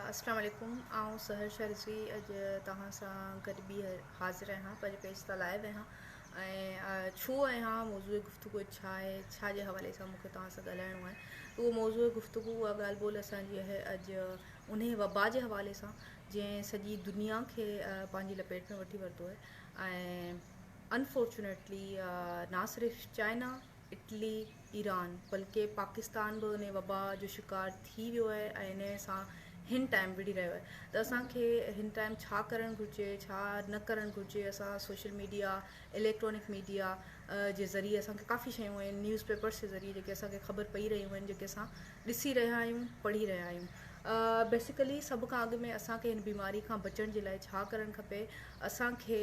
اسلام عليڪم آئون سحر شاھ رضوي اڄ توھان سان گڏ ٻيھر حاضر آھيان پنھنجي پيج تان لائيو آھيان ۽ ڇو آھيان موضوع گفتگو اڄ ڇا آھي ڇا جي حوالي سان مونکي توھان سان ڳالھائڻو آھي اھو موضوع گفتگو اھا ڳالھ ٻولھ اسان جي آھي اڄ انھي وبا جي حوالي سان جنھن سڄي دنيا کي پنھنجي لپيٽ ۾ وٺي ورتو آھي ۽ انفارچونيٽلي نا صرف چائنا اٽلي، ايران بلڪه پاڪستان به ان وبا جو شڪار ٿي ويو آهي ۽ ان سان هن ٽائيم وڙهي رهيو آهي ته اسان کي هن ٽائيم ڇا ڪرڻ گهرجي ڇا نه ڪرڻ گهرجي اسان سوشل ميڊيا اليڪٽرانڪ ميڊيا جي ذريعي اسان کي ڪافي شيون آهن نيوز پيپرس جي ذريعي جيڪي اسان کي خبر پئي رهيون آهن جيڪي اسان ڏسي رهيا آهيون پڙهي رهيا آهيون بيسيڪلي سڀ کان اڳ ۾ اسان کي هن بيماري کان بچڻ جي لاء ڇا ڪرڻ کپي اسان کي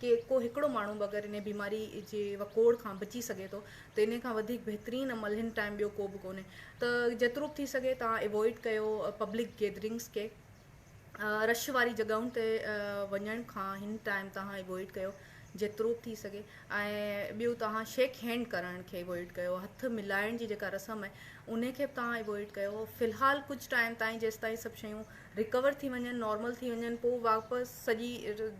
ڪي ڪو هڪڙو ماڻهو به اگر انهي بيماري جي وڪوڙ کان بچي سگهي ٿو ته انهي کان وڌيڪ بهترين عمل هن ٽائيم ٻيو ڪو به ڪونهي ته جيترو به ٿي سگهي توهان اوائڊ ڪيو پبلڪ گيدرنگس کي رش واري جڳهن تي وڃڻ کان هن ٽائيم توهان اوائڊ ڪيو جيترو به ٿي سگهي ۽ ٻيو توهان شيڪ هينڊ ڪرڻ کي اوائڊ ڪيو هٿ ملائڻ جي جيڪا رسم آهي انهي کي به توهان اوائڊ ڪيو في الحال ڪجهه ٽائيم تائين جيستائين سڀ شيون رڪور ٿي وڃن نارمل ٿي وڃن پوء واپس سڄي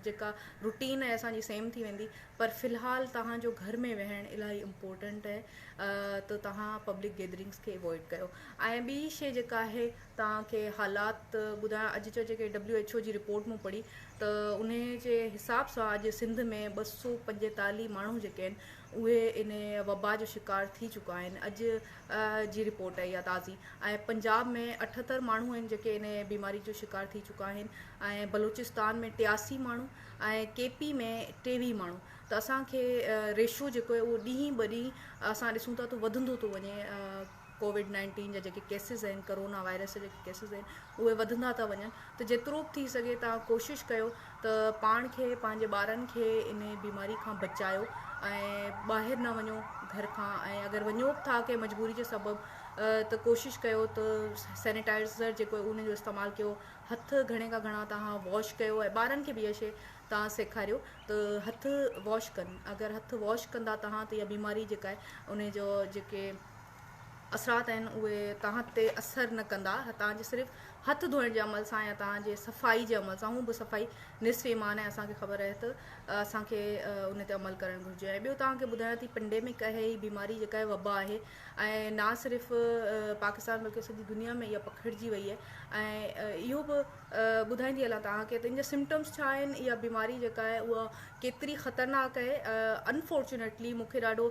جيڪا روٽين آهي اسان جي سيم ٿي ويندي پر في الحال توهان جو گهر ۾ ويهڻ الاهي امپورٽنٽ آهي ته توهان پبلڪ گيدرنگس کي اوائڊ ڪيو ۽ ٻي شي جيڪا آهي توهان کي حالات ٻڌايا اڄ جو جيڪي ڊبليو ايڇ او جي رپورٽ مون پڙهي ته ان جي حساب سان اڄ سنڌ ۾ ٻه سو پنجيتالي ماڻهو جيڪي آهن اهي ان وبا جو شڪار ٿي چڪا آهن اڄ جي رپورٽ اهي آهي تازي ۽ پنجاب ۾ اٺهتر ماڻهو آهن جيڪي ان بيماري جو شڪار ٿي چڪا آهن ۽ بلوچستان ۾ ٽياسي ماڻهو ۽ ڪي پي ۾ ٽيويهه ماڻهو ته اسان کي ريشو جيڪو اهو ڏينهن ٻه ڏينهن اسان ڏسون ٿا ته وڌندو ٿو وڃي ڪووڊ نائنٽين جا جيڪي ڪيسز آهن ڪورونا وائرس جا جيڪي ڪيسز آهن اهي وڌندا ٿا وڃن ته جيترو به ٿي سگهي تان ڪوشش ڪيو ته پاڻ کي پنهنجي ٻارن کي ان بيماري کان بچايو ۽ ٻاهر نه وڃو گهر کان ۽ اگر وڃو به ٿا ڪنهن مجبوري جي سبب ته ڪوشش ڪيو ته سينيٽائزر جيڪو ان جو استعمال ڪيو هٿ گهڻي کان گهڻا توهان واش ڪيو ۽ ٻارن کي به اها شي توهان سيکاريو ته هٿ واش ڪن اگر هٿ واش ڪندا توهان ته اها بيماري جيڪا آهي ان جو جيڪي اثرات آهن اهي تهان تي اثر نه ڪندا تهان جي صرف هٿ ڌوئڻ جي عمل سان يا تهان جي صفائي جي عمل سان هون به صفائي نصف ايمان آهي اسان کي خبر آهي ته اسان کي ان تي عمل ڪرڻ گهرجي ۽ ٻيو تهان کي ٻڌايان ٿي پنڊي ۾ ڪهي هي بيماري جيڪا هي وبا آهي ۽ نه صرف پاڪستان بلڪه سڄي دنيا ۾ اها پکڙجي وئي آهي ۽ اهو به ٻڌائيندي هلان تهان کي تن جا سمٽمس ڇا آهن اها بيماري جيڪا آهي اها ڪيتري خطرناڪ آهي انفارچونيٽلي مونکي ڏاڍو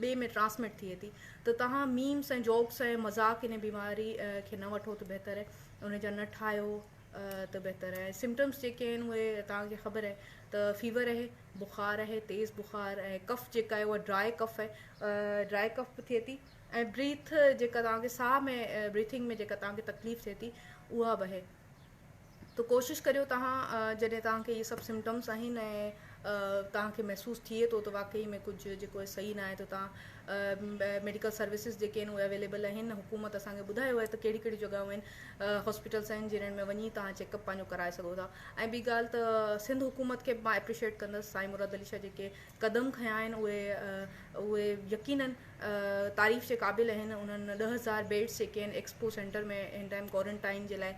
ٻئي ۾ ٽرانسمٽ ٿئي ٿي ته توهان ميمس ۽ جوڪس ۽ مذاق انهي بيماري کي نه وٺو ته بهتر آهي انهي جا نه ٺاهيو ته بهتر آهي سمپٽمس جيڪي آهن اهي توهان کي خبر آهي ته فيور آهي بخار آهي تيز بخار ۽ ڪف جيڪا آهي اها ڊرائي ڪف آهي ڊرائي ڪف به ٿئي ٿي ۽ بريٿ جيڪا توهان کي ساهه ۾ بريٿنگ ۾ جيڪا توهان کي تڪليف ٿئي ٿي اها به آهي ته ڪوشش ڪريو توهان جڏهن توهان کي اهي سڀ سمٽمس آهن ۽ توهان کي محسوس ٿئي ٿو ته واقعي ۾ ڪجهه جيڪو آهي صحيح ناهي ته توهان ميڊيڪل سروسز جيڪي آهن اهي اويليبل آهن حڪومت اسان کي ٻڌايو آهي ته ڪهڙي ڪهڙي جڳهيون آهن هاسپيٽلس آهن جنهن ۾ وڃي توهان چيڪ اپ پنهنجو ڪرائي سگهو ٿا ۽ ٻي ڳالهه ته سنڌ حڪومت کي مان اپريشيئيٽ ڪندس سائين مراد علي شاهه جيڪي قدم کنيا آهن اهي اهي يقينن تعريف جي قابل آهن انهن ڏهه هزار بيڊز جيڪي ان ايڪسپو سينٽر ۾ هن ٽائيم ڪوارنٽائين جي لاء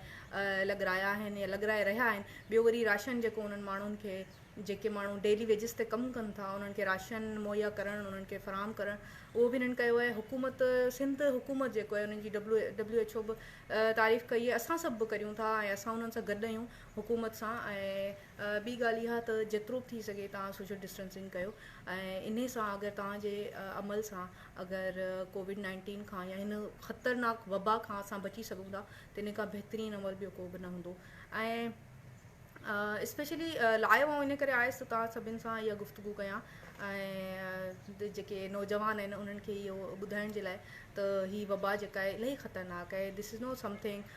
لڳرايا آهن يا لڳرائي رهيا آهن ٻيو وري راشن جيڪو انهن ماڻهن کي جيڪي ماڻهو ڊيلي ويجز تي ڪم ڪن ٿا انهن کي راشن مهيا ڪرڻ انهن کي فراهم ڪرڻ اهو به انهن ڪيو آهي حڪومت سنڌ حڪومت جيڪو آهي انهن جي ڊبلو ڊبليو ايڇ او به تعريف ڪئي آهي اسان سڀ به ڪريون ٿا ۽ اسان انهن سان گڏ آهيون حڪومت سان ۽ ٻي ڳالهه اها ته جيترو به ٿي سگهي توهان سوشل ڊسٽنسنگ ڪيو ۽ انهي سان اگر توهان جي عمل سان اگر ڪووڊ نائنٽين کان يا هن خطرناڪ وبا کان اسان بچي سگهون ٿا ته ان کان بهترين عمل ٻيو ڪو به نه هوندو ۽ اسپيشلي لائيو آئون ان ڪري آيس ته توهان سڀن سان اها گفتگو ڪيان ۽ جيڪي نوجوان آهن انهن کي اهو ٻڌائڻ جي لاء ته هي وبا جيڪا الاهي خطرناڪ آهي دس از نو سمٿنگ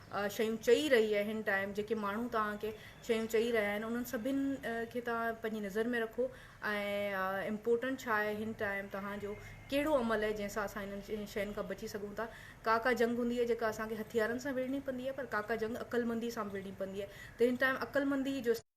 شيون چئي رهي آهن ٽائيم جيڪي ماڻهو توهان کي شيون چئي رهيا آهن انهن سڀن کي توهان پنهنجي نظر ۾ رکو ۽ امپورٽنٽ ڇا آهي هن ٽائيم توهان جو ڪهڙو عمل آهي جنهن سان اسان انهن شين کان بچي سگهون ٿا ڪا ڪا جنگ هوندي آهي جيڪا اسان کي هٿيارن سان وڙهڻي پوندي آهي پر ڪا ڪا جنگ عقلمندي سان به وڙهڻي پوندي آهي ته هن ٽائيم عقلمندي جو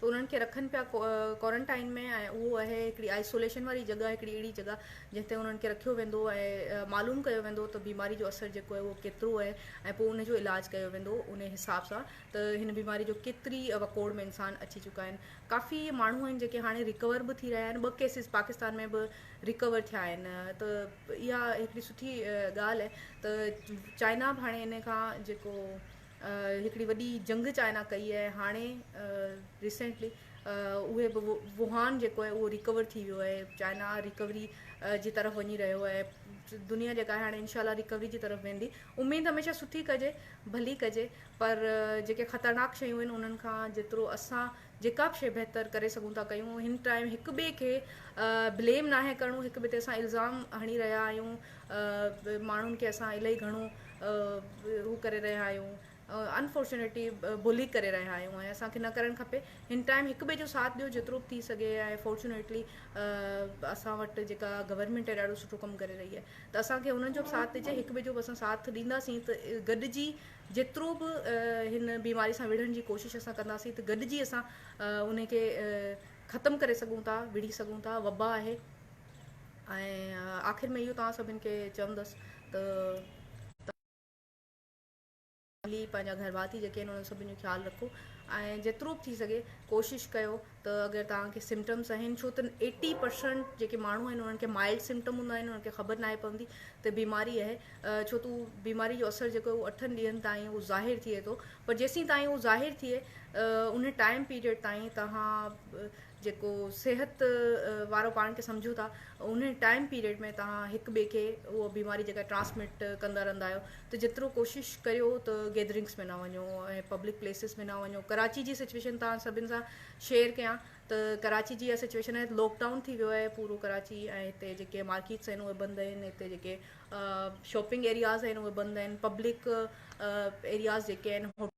ته انهن کي رکن پيا ڪوارنٽائن ۾ ۽ اهو اهي هڪڙي آئسوليشن واري جڳهه هڪڙي اهڙي جڳهه جنهن تي انهن کي رکيو ويندو ۽ معلوم ڪيو ويندو ته بيماري جو اثر جيڪو اهي اهو ڪيترو اهي ۽ پوء ان جو علاج ڪيو ويندو انهي حساب سان ته هن بيماري جو ڪيتري وڪوڙ ۾ انسان اچي چڪا آهن ڪافي ماڻهو آهن جيڪي هاڻي ريڪور به ٿي رهيا آهن ٻه ڪيسز پاڪستان ۾ به ريڪور ٿيا آهن ته اها هڪڙي سٺي ڳالهه آهي ته چائنا به هاڻي ان کان جيڪو هڪڙي وڏي جنگ چائنا ڪئي آهي هاڻي ريسينٽلي اهي به ووهان جيڪو آهي اهو ريڪور ٿي ويو آهي چائنا ريڪوري جي طرف وڃي رهيو آهي دنيا جيڪا آهي هاڻي انشاء الله ريڪوري جي طرف ويندي اميد هميشه سٺي ڪجي ڀلي ڪجي پر جيڪي خطرناڪ شيون آهن انهن کان جيترو اسان جيڪا به شيء بهتر ڪري سگهون ٿا ڪيون هن ٽائيم هڪ ٻئي کي بليم ناهي ڪرڻو هڪ ٻئي تي اسان الزام هڻي رهيا آهيون ماڻهن کي اسان الائي گهڻو هو ڪري رهيا آهيون انفارچونيٽلي بلي ڪري رهيا آهيون ۽ اسان کي نه ڪرڻ کپي هن ٽائيم هڪ ٻئي جو ساٿ ڏيو جيترو به ٿي سگهي ۽ فارچونيٽلي اسان وٽ جيڪا گورنمنٽ ڏاڍو سٺو ڪم ڪري رهي آهي ته اسان کي انهن جو به ساٿ ڏجي هڪ ٻئي جو به اسان ساٿ ڏينداسين ته گڏجي جيترو به هن بيماري سان وڙهڻ جي ڪوشش اسان ڪنداسين ته گڏجي اسان ان کي ختم ڪري سگهون ٿا وڙهي سگهون ٿا وبا آهي ۽ آخر ۾ اهو توهان سڀن کي چوندس ته پنهنجا گهر ڀاتي جيڪي آهن انهن سڀن جو خيال رکو ۽ جيترو به ٿي سگهي ڪوشش ڪيو ته اگر توهان کي سمپٽمس آهن ڇو ته ايٽي پرسنٽ جيڪي ماڻهو آهن انهن کي مائلڊ سمپٽم هوندا آهن انهن کي خبر ناهي پوندي ته بيماري اهي ڇو ته اهو بيماري جو اثر جيڪو اهو اٺن ڏينهن تائين اهو ظاهر ٿئي ٿو پر جيسين تائين اهو ظاهر ٿئي ان ٽائم پيريڊ تائين توهان جيڪو صحت وارو پاڻ کي سمجهو ٿا ان ٽائم پيريڊ ۾ توهان هڪ ٻئي کي اهو بيماري جيڪا ٽرانسمٽ ڪندا رهندا آهيو ته جيترو ڪوشش ڪريو ته گيدرنگس ۾ نه وڃو ۽ پبلڪ پليسز ۾ نه وڃو ڪراچي جي سچويشن تان سڀن سان شيئر ڪيان ته ڪراچي جي اها سچويشن آهي لوڪ ڊائون ٿي ويو آهي پورو ڪراچي ۽ هتي جيڪي مارڪيٽس آهن اهي بند آهن هتي جيڪي شاپنگ ايرياز آهن اهي بند آهن پبلڪ ايرياز جيڪي آهن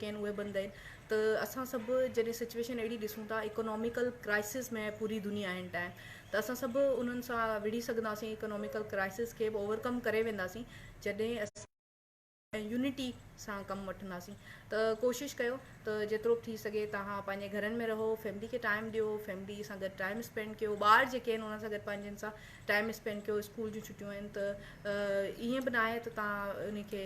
ڪين اهي بند آهن ته اسان سڀ جڏهن سچويشن اهڙي ڏسون ٿا اڪناميڪل ڪرائسس ۾ پوري دنيا اين ٽائم ته اسان سڀ انهن سان وڙهي سگهنداسين اڪناميڪل ڪرائسس کي به اوورڪم ڪري وينداسين جڏهن اسان ۽ يونٽي سان ڪم وٺنداسين ته ڪوشش ڪيو ته جيترو به ٿي سگهي توهان پنهنجي گهرن ۾ رهو فيملي کي ٽائم ڏيو فيملي سان گڏ ٽائم اسپينڊ ڪيو ٻار جيڪي آهن انهن سان گڏ پنهنجن سان ٽائم اسپينڊ ڪيو اسڪول جون ڇٽيون آهن ته ائين به ناهي ته تان ان کي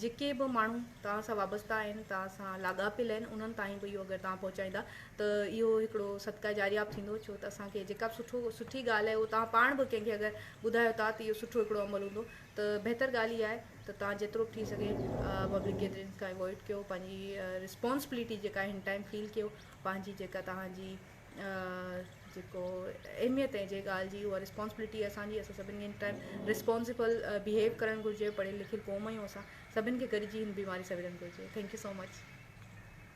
جيڪي به ماڻهو توهان سان وابسته آهن توهان سان لاڳاپيل آهن انهن تائين به اهو اگر توهان پهچائيندا ته اهو هڪڙو صدقه جاريه به ٿيندو ڇو ته اسان کي جيڪا به سٺو سٺي ڳالهه آهي اهو توهان پاڻ به ڪنهن کي اگر ٻڌايو ٿا ته اهو سٺو هڪڙو عمل هوندو ته بهتر ڳالهه اها آهي ته توهان جيترو به ٿي سگهي پبلڪ گيدرنگز کان اوائڊ ڪيو پنهنجي رسپانسبلٽي جيڪا آهي هن ٽائيم فيل ڪيو پنهنجي جيڪا توهان جي جيڪو اهميت ۽ جي ڳالهه جي اها رسپانسبلٽي اسان جي اسان سڀني کي ٽائم رسپانسبل بهيو ڪرڻ گهرجي پڙهيل لکيل قوم آهيون اسان سڀني کي گڏجي هن بيماري سان وڙهڻ گهرجي ٿينڪ يو سو مچ